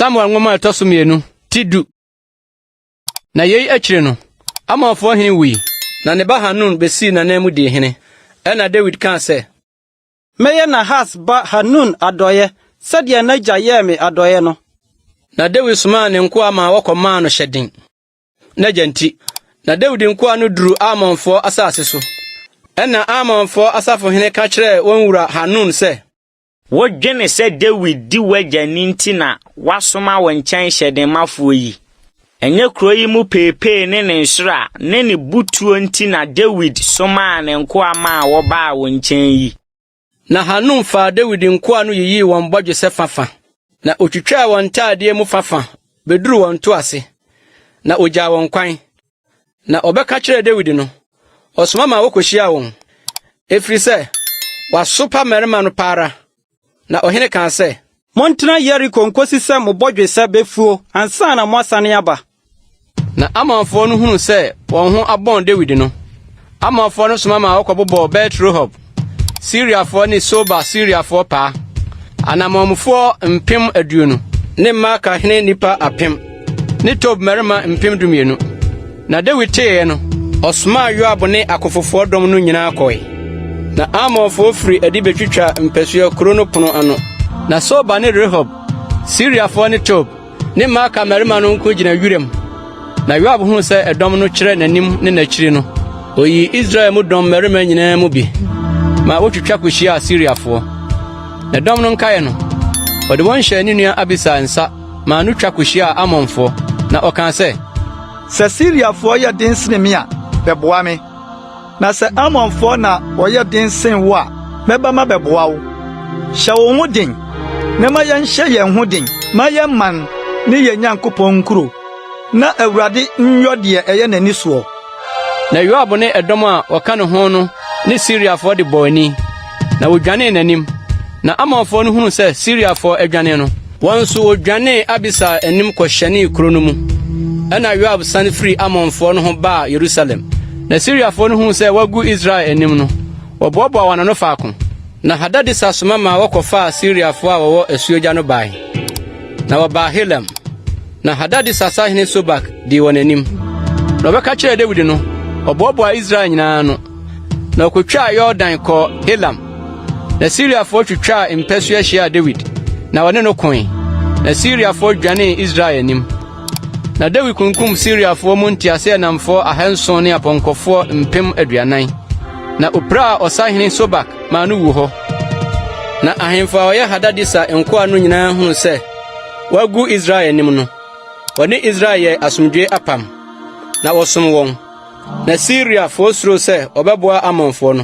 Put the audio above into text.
samuel nwoma a ɛtɔ so mmienu ti du na yei akyire no amonfoɔ hene wui na ne ba hanun bɛsii n'anan mu dii hene ɛna dawid kaa sɛ mɛyɛ nahas ba hanun adɔeɛ sɛdeɛ n'agya yɛɛ me adɔeɛ no na dawid somaa ne nkoa ma wɔkɔmaa no hyɛden n'agya nti, na Dawid nkoa no duru Amonfoɔ asase so. Ɛnna Amonfoɔ asafohene ka kyerɛɛ wɔn wura Hanun sɛ. Wodwene sɛ Dawid di w'agya ni nti na wasoma wo nkyɛn hyɛdenmafoɔ yi? Ɛnyɛ kuro yi mu peepee ne ne nhyira ne ne botuo nti na Dawid somaa ne nkoa maa wɔbaa wo nkyɛn yi? Na Hanun faa Dawid nkoa no yiyii wɔn bɔdwesɛ fafa, na otwitwaa wɔn ntaadeɛ mu fafa bɛduruu wɔn nto ase, na ogyaa wɔn kwan. Na wɔbɛka kyerɛɛ Dawid no, ɔsoma maa wɔkɔhyiaa wɔn, ɛfiri sɛ wasopa mmarima no pa ara. Na ɔhene kaa sɛ. Montena Yeriko nkɔsi sɛ mo bɔdwesɛ bɛfuo ansa na moasane aba. Na Ammonfoɔ no hunu sɛ wɔn ho abɔn Dawid no, Ammonfoɔ no soma ma wɔkɔbobɔɔ Bet-Rehob, Siriafoɔ ne Soba Siriafoɔ paa, anammɔnmufoɔ mpem aduonu ne Maaka hene nnipa apem ne Tob mmarima mpem dumienu. Na Dawid teeɛ no, ɔsomaa Yoab ne akofofoɔ dɔm no nyinaa kɔe. Na Ammonfoɔ firi adi bɛtwitwaa mpasua kuro no pono ano. Na Soba ne Rehob, Siriafoɔ ne Tob Ne Maaka mmarima no nko gyina wuram. Na Yoab huu sɛ ɛdɔm no kyerɛ n'anim ne n'akyiri no, oyii Israel mu dɔm mmarima nyinaa mu bi ma wotwitwa kohyiaa Siriafoɔ. Na dɔm no nkaeɛ no, ɔde wɔn hyɛɛ ne nua Abisai nsa maa no twa kohyiaa Ammonfoɔ, na ɔkaa sɛ, Sɛ Siriafoɔ yɛ den sene me a, bɛboa me. Na sɛ Ammonfoɔ na wɔyɛ den sen wo a, mɛba mabɛboa wo. Hyɛ wo ho den, na ma yɛnhyɛ yɛn ho den ma yɛn man ne yɛn Nyankopɔn nkuro, na Awurade nyɔ deɛ ɛyɛ n'ani soɔ. Na Yoab ne ɛdɔm a wɔka ne ho no ne Siriafoɔ de bɔɔ ani, na wɔdwanee n'anim. Na Ammonfoɔ no hunuu sɛ Siriafoɔ adwane no, Wɔn nso wɔdwanee Abisai anim kɔhyɛnee kuro no mu. Ɛnna Yoab san firii Ammonfoɔ no ho baa Yerusalem. Na Siriafoɔ no huu sɛ wɔagu Israel anim no, wɔboaboaa wɔn ano faako. Na Hadadeser soma maa wɔkɔfaa Siriafoɔ a wɔwɔ asuogya no bae, na wɔbaa Helam. Na Hadadeser sahene Sobak dii wɔn anim. Na wɔbɛka kyerɛɛ Dawid no, ɔboaboaa Israel nyinaa ano. na ɔkɔtwaa Yordan kɔɔ Helam. Na Siriafoɔ twitwaa mpasua hyiaa Dawid, na wɔne no koe, na Siriafoɔ dwanee Israel anim. Na Dawid kunkum Siriafoɔ mu nteaseɛnamfoɔ ahanson ne apɔnkɔfoɔ mpem aduanan, na ɔpiraa ɔsahene Sobak maa no wuu hɔ. Na ahemfo a wɔyɛ Hadadeser nkoa no nyinaa hunuu sɛ wɔagu Israel anim no, wɔne Israel yɛɛ asomdwoe apam. na wɔsom wɔn. Na Siriafoɔ suroo sɛ wɔbɛboa Ammonfoɔ no.